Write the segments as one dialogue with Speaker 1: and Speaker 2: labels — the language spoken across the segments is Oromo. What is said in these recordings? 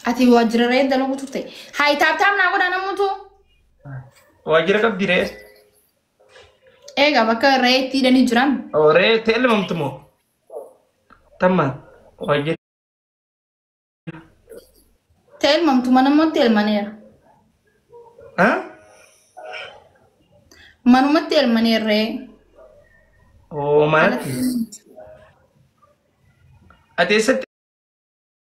Speaker 1: Ati waajjira re'ee dalaguu turte. Hayi taaptaap naa godhaa namuutu.
Speaker 2: Waajjira qabdi ree.
Speaker 1: Eegaa bakka re'ee itti hidhanii jiran. Oo ree itti elmamtu
Speaker 2: moo? Tammaan waajjira. Ta'e
Speaker 1: elmamtu mana mootti elmaneera. Ha? Manumatti elmaneera re'ee.
Speaker 2: Oo manatti. Ati eessatti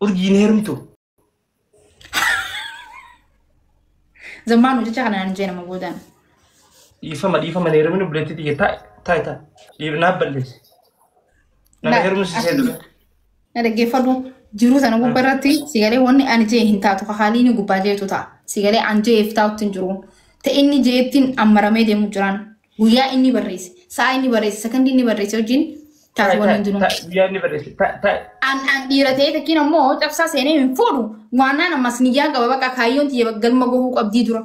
Speaker 2: Urjiin heerumtu.
Speaker 1: Zammaan hojjechaa kana naan jee nama boodaan. Dhiifama
Speaker 2: dhiifama hin heerumin obboleettii tiyya taa'i taa'i taa'i. Dhiif naaf balleessi. Nama Na- heerumsiisee dura. Na dhaggeeffadhu
Speaker 1: jiruu sana gubbaa irratti sigalee wanni ani jee hin taatu ka haalii inni gubbaa jeetu ta'a. Sigalee an jeef taa'utti hin jiru. Ta'e inni jeettiin ammaramee deemu jiraan. Guyyaa inni barreesse, sa'a inni barreesse, sakandii inni barreesse wajjin taate wal hin jiru. Guyyaa inni barreesse. Ta-
Speaker 2: ta- An an
Speaker 1: dhiira ta'ee takkiin ammoo cabsaa seenee hin fuudhu. Waannaan ammas niyyaan qaba bakka kaayyoon tiyya galma gohuu qabdii dura.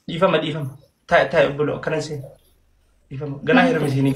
Speaker 1: Dhiifama dhiifama.
Speaker 2: Ta- ta- Buloo akkana seena. Dhiifama. Ganaa hirmisiinii.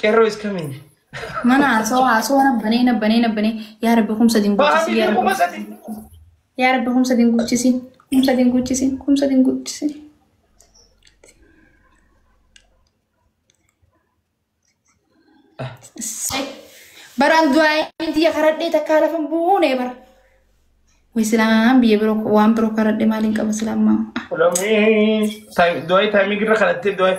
Speaker 2: Qeerroo is coming. Mana haasawaa
Speaker 1: haasawaa nabbanee nabbanee nabbanee yaa rabbi kumsa Bahaa dinguuchisi yaa miidhaguu rabbi masati. yaa rabbi kumsa dinguuchisi kumsa dinguuchisi kumsa dinguuchisi. Issee. Baraan du'aayin tiyya karadhee takkaa lafa hin buune bara. Wai silaan biyya biroo waan biroo karadhee maaliin qaba silaan maa.
Speaker 2: Du'aayi taayimii girra kadhattee du'aayi.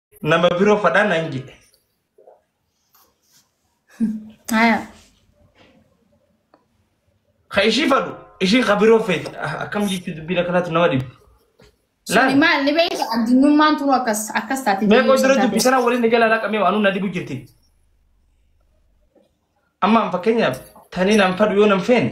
Speaker 2: Nama biro fadha nan jedhe.
Speaker 1: Haya.
Speaker 2: Ka ishii fadhu ishii ka biroo feeti. Ah, Akkam jechuun dubbiin akkanaatu nama dhibbi. Suni Laal.
Speaker 1: maal ni beekta addunyummaan turu akkas akkas taate. Mee koo dura dubbi sana
Speaker 2: waliin na jalaa laqamee waan na dhibu jirti. Amma an fakkeenyaaf tanii nan fadhu yoo nan feene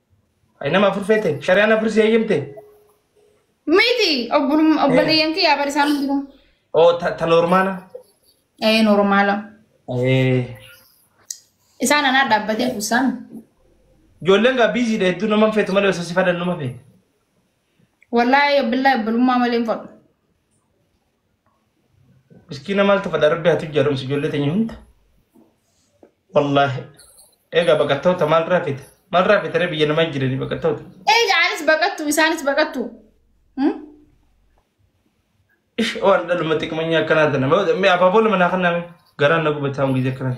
Speaker 1: Ay nama
Speaker 2: afur feete shari'aan afur si eeyyamte.
Speaker 1: Miti obbolum- obboleeyyan kiyyaa bara isaan jiru. Oo ta ta
Speaker 2: normaana. Ee
Speaker 1: normaala.
Speaker 2: Eh,
Speaker 1: Isaan anaa dhaabbatee kuusaan. Ijoolleen
Speaker 2: gaa biiziidha hedduu nama hin feetu malee osoo si fadhan nama feete.
Speaker 1: Wallaahi billahi obbolummaa malee hin fadhu.
Speaker 2: Miskiina maal tafadha rabbi haa tujjaaromsu ijoollee teenya hunda. Wallaahi. Egaa baqattoota maal raafita? Maal raafita ree biyya namaa jiranii baqattoota? Egaa anis
Speaker 1: baqattu isaanis baqattu. Hmm?
Speaker 2: Ish waan dhaluma xiqmanya akkanaa tana. Mee abaaboo lama naa kennaa mee? Garaan na gubataa hongii akkanaa.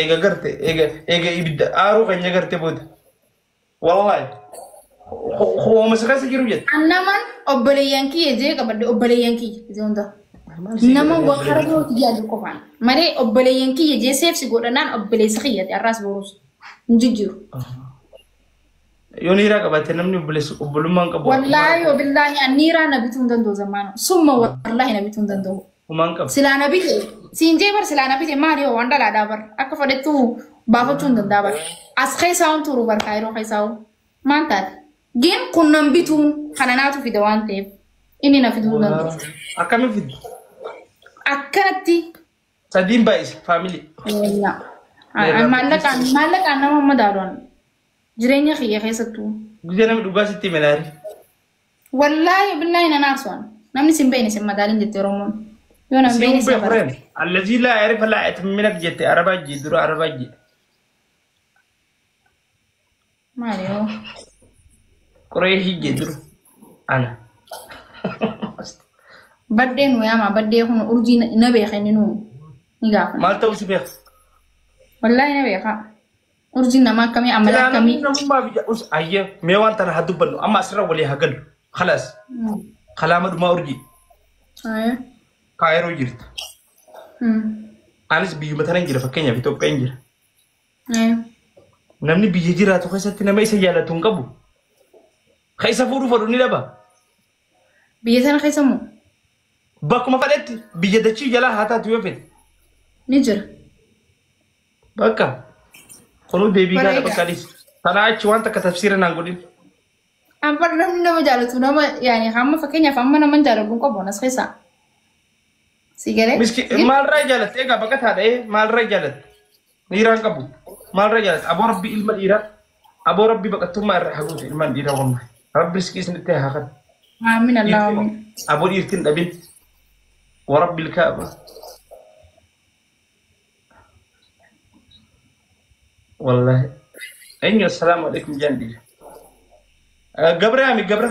Speaker 2: Eega garte eega ibidda aaruu keenya garte booda. Wallahi. Hooma si keessa jiru jette. An naman
Speaker 1: obboleeyyan kiyya jee qabadde obboleeyyan kiyya jee hunda. Nama waa karaa birootti yaadu qofaan. Malee obboleeyyan kiyya jee seefsi godhannaan obboleessa kiyyati arraas boruus. Hin jijjiiru.
Speaker 2: Yoo niiraa qabatte namni obboleessa- obbolummaan qabu. Wallaahi wabillaahi
Speaker 1: anniiraa na bituu hin danda'u zammaana. Summa wallaahi na bituu hin danda'u. Humaan qabu. Silaa na
Speaker 2: bite
Speaker 1: siin jee bar silaa na bite maali hoo waan dhalaadhaa bar akka fedhettu baafachuu hin danda'a bar. As keessaa waan turu bar kaayiroo keessaa hoo maal taate? Gin kun nan bituun kana naatu fida waan ta'eef inni na fiduu hin danda'u. Akkamiin fiddu? Akkanatti Sadiin
Speaker 2: baay'ise family. Eenyaa. Meerraa
Speaker 1: Maallaqaan guddisuu. maallaqaan nama madaaluun jireenya kiyya keessattuu. Guyyaa nama dhugaa
Speaker 2: sitti hime laari. Wallaahi
Speaker 1: billaahi nan aarsuwan. Namni sin beekne sin madaalin jetti Oromoon. Yoo nan beekne Siin sin madaalin. beekureen. Allazii
Speaker 2: laa yarifa laa etimminat jette arabaa jii dura arabaa jii.
Speaker 1: Maali hoo?
Speaker 2: Qoree hiyye jiru. Ana.
Speaker 1: Baddee nu yaama baddee kun urjii na- na beeka inni nu ni gaafa. Maal ta'uu si beeku?
Speaker 2: Wallaahi
Speaker 1: na beeka. Urjii nama akkamii amala akkamii. Namummaa biyya us
Speaker 2: ayyee mee waan tana haa dubbannu amma asirra walii haa gallu. Khalaas. Mm. Kalaama dhumaa urjii. Aye.
Speaker 1: Kaayiroo
Speaker 2: jirta. Mm. Anis biyyuma tana hin jira fakkeenyaaf Itoophiyaa hin jira.
Speaker 1: Namni
Speaker 2: biyya jiraatu keessatti nama isa jaalatu hin qabu. Ka isa fuudhu fedhu ni dhaba.
Speaker 1: Biyya sana keessa immoo Bakkuma
Speaker 2: fedhetti biyya dachii jalaa haa taatu yoo fedhe. ni jira. Bakka. Kunuu deebii gaadha Bareeda. bakka dhiis. Tanaa achi waan takka tafsiira naan godhin. Amma
Speaker 1: namni nama jaalatu nama yaani hamma fakkeenyaaf amma nama hin jaalatu hin qabu anas keessaa. Si galee? Miski maalirraa
Speaker 2: jaalatte egaa baqa taadha ee maalirraa jaalatte dhiiraan qabu maalirraa jaalatte aboo rabbi ilma dhiiraa aboo rabbi baqattummaa irraa haa guutu ilmaan dhiiraa wamma rabbi riskii isinitti haa kan Aamin Allah
Speaker 1: aamin. aboo dhiirtiin dhabin
Speaker 2: warabbi ilkaaba wallaahi eenyu assalaamu alaikum jaan dhiira gabra yaami gabra